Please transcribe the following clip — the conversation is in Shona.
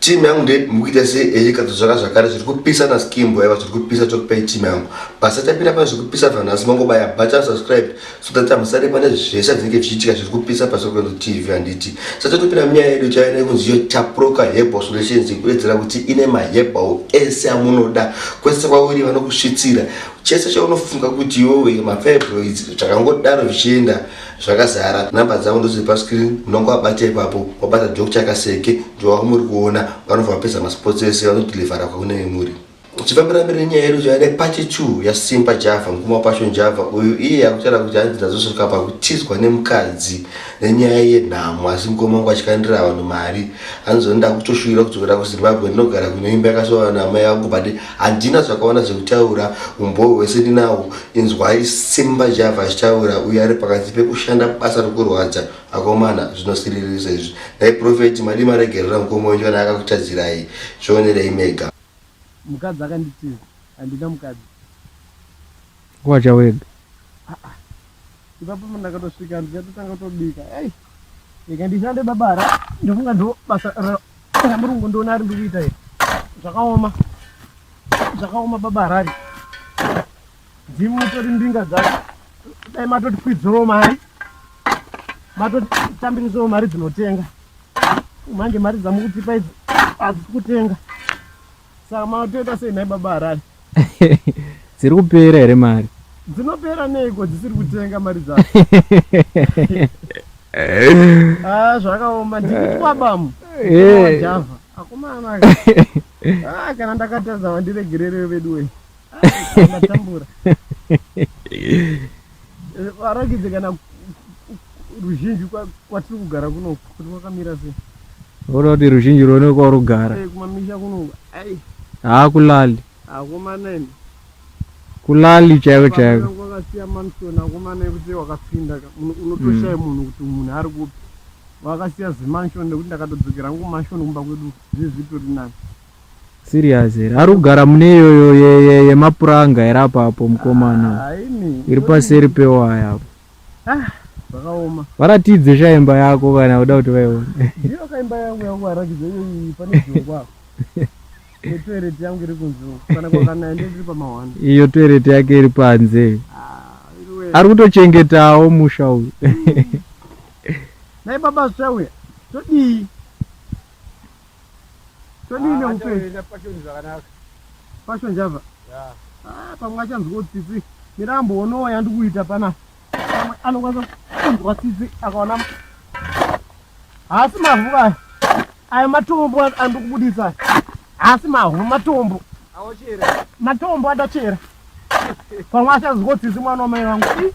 team yangu nde mukuita se eyeka tozvara zvakare zviri kupisa na skim boy va zviri kupisa to pay team yangu basa tapira pa zviri kupisa vanhu asi mango baya bacha subscribe so that amusare pane zvese zvinenge zvichiitika zviri kupisa pa sokwe tv anditi sasa topira mia yedu chayo ne kunzi yo taproka hebo solutions kuedzera kuti ine ma hebo ese amunoda kwese kwauri vanokusvitsira chese chaunofunga kuti yowe ma fibroids zvakangodaro zvichienda zvakazara number dzavo ndoziri pascreen unonge wabata ipapo wabata dok chakaseke ndovavo muri kuona vanobva vapedza masports ese vanodilivhara kwakunenge muri uchifambira mberi nyaya yedu zvayada pachi two yasimba java mukuma pasho java uyu iye akutaura kuti hanzi ndazosvika pakutizwa nemukadzi nenyaya yenhamo asi mukoma wangu achikandira vanhu mari hanzi ndoda kutoshuvira kudzokera kuzimbabwe ndinogara kunoimba yakasoana mai vangu bade handina zvakaona zvekutaura umbowo hwese ndinawo inzwai simba java achitaura uye ari pakati pekushanda basa rekurwadza akomana zvinosiririsa izvi dai profeti madi maregerera mukoma wenyu kana akakutadzirai zvionerei mega mukadzi akanditiza handina mukadzi wacha wega ah, ah. ipapo ndakatosvika ndichatotanga kutobika ei ikandishande babara ndofunga ndo basa Kana muri kungondiona ari ndiri kuita here? Zvakaoma. Zvakaoma baba Harare. Ndimi mutori mbinga dzacho. Dai matoti kwidzirawo mari. Matoti tambirisawo mari dzinotenga. Manje mari dzamukutipa idzi hadzisi kutenga. Saka matoita sei nhai baba Harare? Dziri kupera here mari? Dzinopera neiko dzisiri kutenga mari dzacho? Ah, zvakaoma ndikuti kwabamu. Eh. Java. Akomana. Ah, kana ndakatadza vandiregererewo veduwe. matambura varakidze kana ruzhinji kwatiri kugara kuno kuti kwakamira sei voda kuti ruzhinji rwone kwarugara eh, kumamisha kuno ai haa kulali hakumanene kulali chaiko chaiko kwakasiya manson akumane kuti wakapinda unotoshaya mm. munhu kuti munhu ari kupi wakasiya zimanshon nekuti ndakatodzokera ngu manshon kumba kwedu zvizitori nani Serious here? Ari kugara mune iyoyo yemapuranga here apa apo mukomana? Ah, Iri paseri pewaya apo. Ah, zvakaoma. Varatidze sha imba yako kana uda kuti vaione. Ndiyo ka imba yangu yangu arakidze iyoyi pane dzungwa apo. Toilet yangu iri kunze. Kana kwakanaya ndiri pamahwanda. Iyo toilet yake iri panze. Ah, ari kutochengetawo musha uyu. Dai baba zvawe. Todii? todii neupenyu passion java ah, pamwe achanzwa tsitsi mirambo onowo yandikuita pana pamwe anokwanisa kunzwa tsitsi akaona haasi mavhu kaya aya matombo andikubudisa haasi mavhu matombo matombo adachera pamwe achanzwa tsitsi mwana wamai vangu